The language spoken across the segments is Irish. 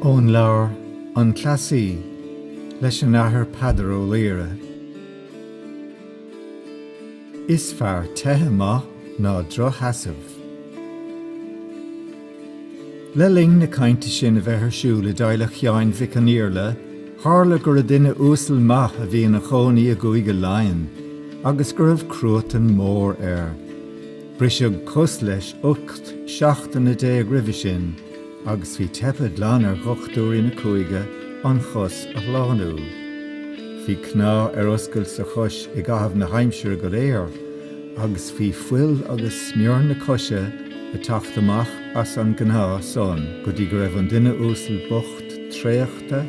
Ón leabhar An Cleasaí leis an Athair Peadar Ó Laoghaire. Is fearr teitheadh maith ná droch-sheasamh. Le linn na cainte sin a bheith ar siúl i dteaghlach Sheáin Mhic an Iarla, tharla go raibh duine uasal maith a bhí ina chónaí i gCúige Laighean, agus go raibh cruatan mór air. Briseadh cos leis ocht seachtaine déag roimhe sin, agus bhí teipthe glan ar dhochtúirí na cúige an chos a shlánú. Bhí cneá ar oscailt sa chois i gcaitheamh na haimsire go léir, agus bhí fuil agus smior na coise ag teacht amach as an gcneá san go dtí go raibh an duine uasal bocht traochta,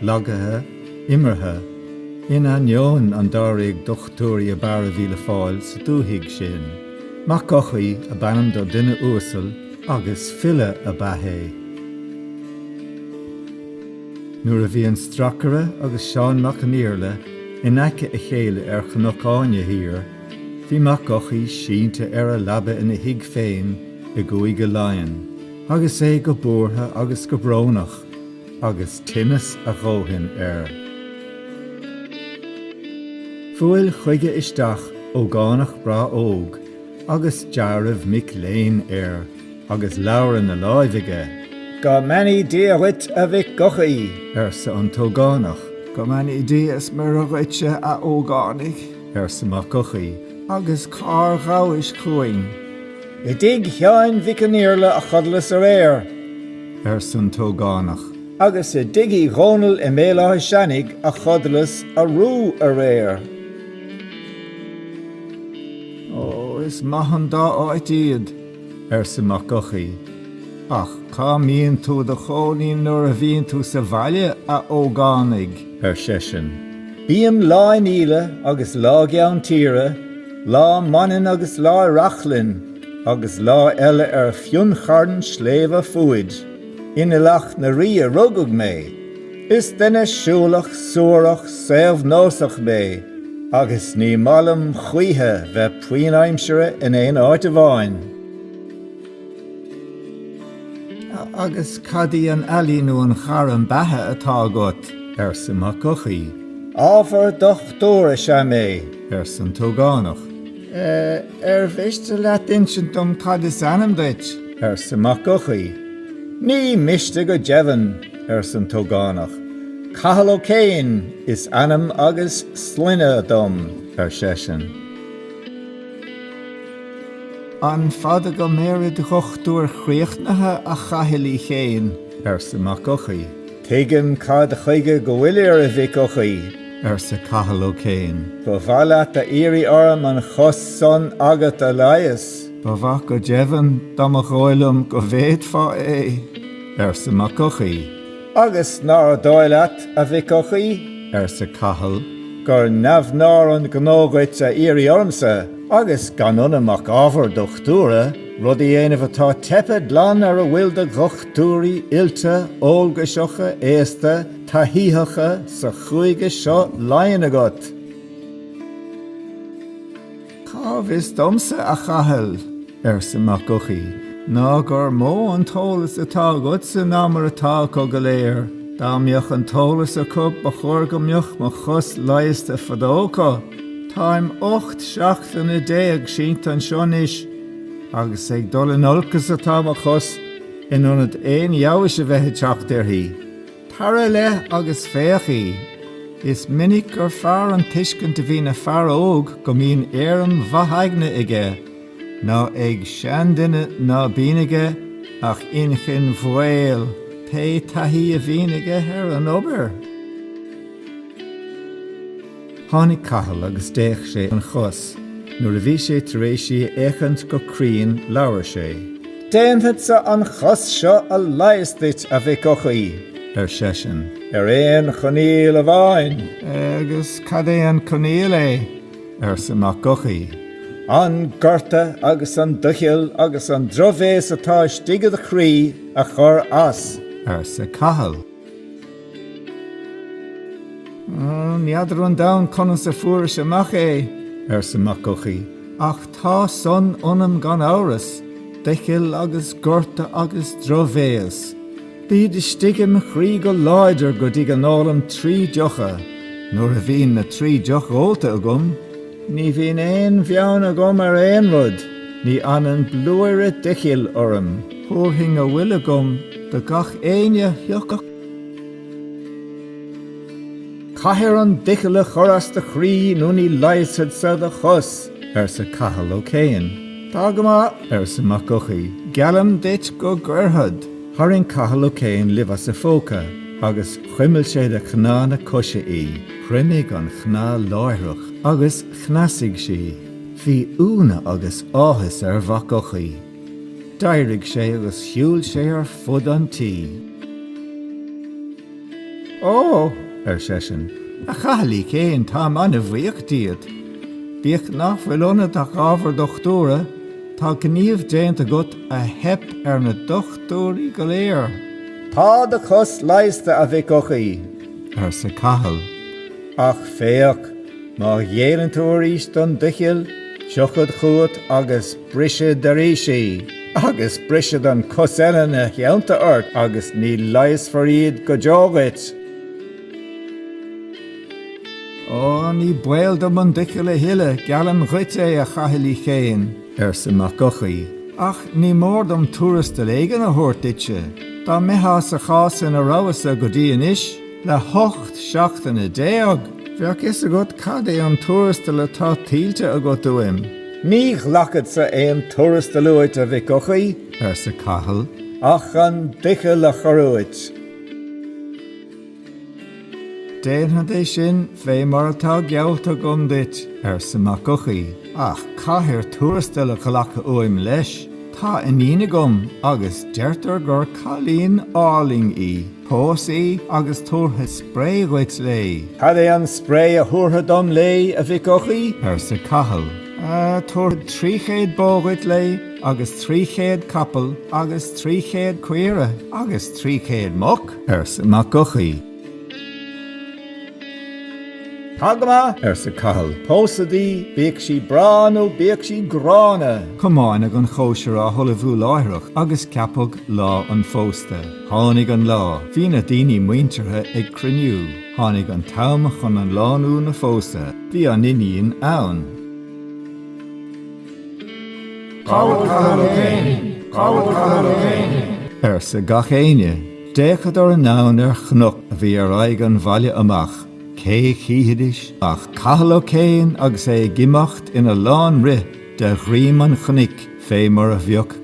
lagaithe, imeartha, in ainneoin an dáréag dochtúirí ab fhearr a bhí le fáil sa dúthaigh sin. Mac Eochaidh ab ainm don duine uasal agus file ab ea é. Nuair a bhí an stracaire agus Seán Mac an Iarla in aice a chéile ar Chnoc Áine thiar, Bhí Mac Eochaidh sínte ar a leaba ina thigh féin i gCúige Laighean agus é go buartha agus go brónach agus tinneas a dhóthain air. Bhuail chuige isteach ógánach breá óg agus deáramh mic léinn air agus leabhar ina láimh aige. Go mbeannaí Dia dhuit, a Mhic Eochaidh! arsa an t-ógánach. Go mbeannaí Dia is Muire dhuitse, a ógánaigh! arsa Mac Eochaidh, agus cár ghabhais chugainn? I dtigh Sheáin Mhic an Iarla a chodlas aréir, arsa an t-ógánach. Agus i dtigh Uí Dhónaill i mBéal Átha Seanaigh a chodlas arú aréir. Ó, is maith an dá áit iad. arsa Mac Eochaidh, ach cá mbíonn tú i do chónaí nuair a bhíonn tú sa bhaile, a ógánaigh? ar seisean. Bím lá in Íle agus lá i gCeann Tíre, lá i Manainn agus lá i Reachlainn, agus lá eile ar Fionncharn Sléibhe Fuaid. In Aileach na Rí a rugadh mé. Is duine siúlach, suarach, saobhnósach mé agus ní maith liom choíche bheith puinn aimsire in aon áit amháin. Agus cad í an ealaí nó an ghairm beatha atá agat? arsa Mac Eochaidh. Ábhar dochtúra is ea mé, arsa an t-ógánach. Ar mhiste leat insint dom cad is ainm duit? arsa Mac Eochaidh. Ní miste go deimhin. arsa an t-ógánach. Cathal Ó Céin is ainm agus sloinne dom, ar seisean. An fada go mbeir id dhochtúir chríochnaithe, a Chathail Uí Chéin? arsa Mac Eochaidh. Tuigim cad chuige go bhfuilir, a Mhic Eochaidh, arsa Cathal Ó Céin. Ba mhaith leat a iarraidh orm an chos san agat a leigheas? Ba mhaith go deimhin, dá mba dhóigh liom go bhféadfá é. arsa Mac Eochaidh. Agus nár dhóigh leat, a Mhic Eochaidh, arsa Cathal, gur neamhnár an gnó dhuit a iarraidh ormsa, agus gan ionam ach ábhar dochtúra, rud a dhéanamh atá teipthe glan ar a bhfuil de dhochtúirí oilte, eolgaiseacha, aosta, taithítheacha sa chúige seo Laighean agat. Cá bhfios domsa, a Chathail, arsa Mac Eochaidh, ná gur mó an t-eolas atá agatsa ná mar atá acu go léir. Dá mbeadh an t-eolas acu ba chóir go mbeadh mo chos leigheasta fadó acu. Táim ocht seachtaine déag sínte anseo anois agus ag dul in olcas atá mo chos in ionad aon fheabhais a bheith ag teacht uirthi. Tar i leith agus féach í. Is minic gur fearr an tuiscint a bhíonn ag fear óg go mbíonn éirim mhaith aigne aige ná ag seanduine ná bíonn aige ach inchinn mhaol pé taithí a bhíonn aige ar an obair. Tháinig Cathal agus d'fhéach sé an chos. Nuair a bhí sé tar éis í a fhéachaint go cruinn labhair sé. Déanfadsa an chos seo a leigheas duit, a Mhic Eochaidh, ar seisean, ar aon choinníoll amháin. Agus cad é an coinníoll é? arsa Mac Eochaidh. An gorta agus an doicheall agus an drochbhéas atá istigh i do chroí a chur as, arsa Cathal. N'fheadar 'on domhan conas a fuairis amach é, arsa Mac Eochaidh, ach tá san ionam gan amhras, doicheall agus gorta agus drochbhéas. Bíd istigh im chroí go láidir go dtí go n-ólaim trí deocha. Nuair a bhíonn na trí deocha ólta agam, Ní bhíonn aon bheann agam ar aon rud, ní fhanann blúire doichill orm. Thabharfainn a bhfuil agam do gach éinne a thiocfadh. Caithfear an doicheall a chur as do chroí nó ní leigheasfadsa do chos, arsa Cathal Ó Céin. Tá go maith, arsa Mac Eochaidh, geallaim duit go gcuirfead. Tharraing Cathal Ó Céin luibh as a phóca agus chuimil sé de chneá na coise í. Chruinnigh an chnámh láithreach agus chneasaigh sí. Bhí iúnadh agus áthas ar Mhac Eochaidh. D'éirigh sé agus shiúil sé ar fud an tí. Ó! ar seisean, a Chathail Uí Chéin, táim an-bhuíoch díot. Bíodh nach bhfuil ionat ach ábhar dochtúra, tá gníomh déanta agat a theip ar na dochtúirí go léir. Tá do chos leigheasta, a Mhic Eochaidh. arsa Cathal. Ach féach, má ghéilleann tú arís don doicheall, tiocfad chugat agus brisfead arís í, agus brisfead an cos eile 'na theannta ort agus ní leigheasfar iad go deo dhuit. Ó, ní baol dom an doicheall a thuilleadh, geallaim dhuit é, a Chathail Uí Chéin. arsa Mac Eochaidh. Ach ní mór dom tuarastal éigin a thabhairt duitse. Dá mbeitheá sa chás ina rabhas-sa go dtí anois, le hocht seachtaine déag, bheadh fhios agat cad é an tuarastal atá tuillte agat uaim. Ní ghlacfad-sa aon tuarastal uait, a Mhic Eochaidh, arsa Cathal, ach an doicheall a chur uait. Déanfad é sin fé mar atá geallta agam duit, arsa Mac Eochaidh, ach caithfir tuarastal a ghlacadh uaim leis. Tá iníon agam agus deirtear gur cailín álainn í. Pós í agus tabharfad spré dhuit léi. Cad é an spré a thabharfair dom léi, a Mhic Eochaidh? arsa Cathal. Tabharfad trí chéad bó dhuit léi agus trí chéad capall agus trí chéad caoire agus trí chéad muc. arsa Mac Eochaidh. Tá go maith, arsa Cathal, pósad í, bíodh sí breá nó bíodh sí gránna. Comáineadh an chóisir á hullmhú láithreach agus ceapadh lá an phósta. Tháinig an lá. Bhí na daoine muinteartha ag cruinniú. Tháinig an t-am chun an lánúin a phósadh. Bhí an iníon ann. Cá bhfuil Cathal Ó Céin? Cá bhfuil Cathal Ó Céin? arsa gach éinne. D'fhéachadar anonn ar chnoc a bhí ar aghaidh an bhaile amach, cé chífidís ach Cathal Ó Céin agus é ag imeacht ina lán rith de dhroim an chnoic fé mar a bheadh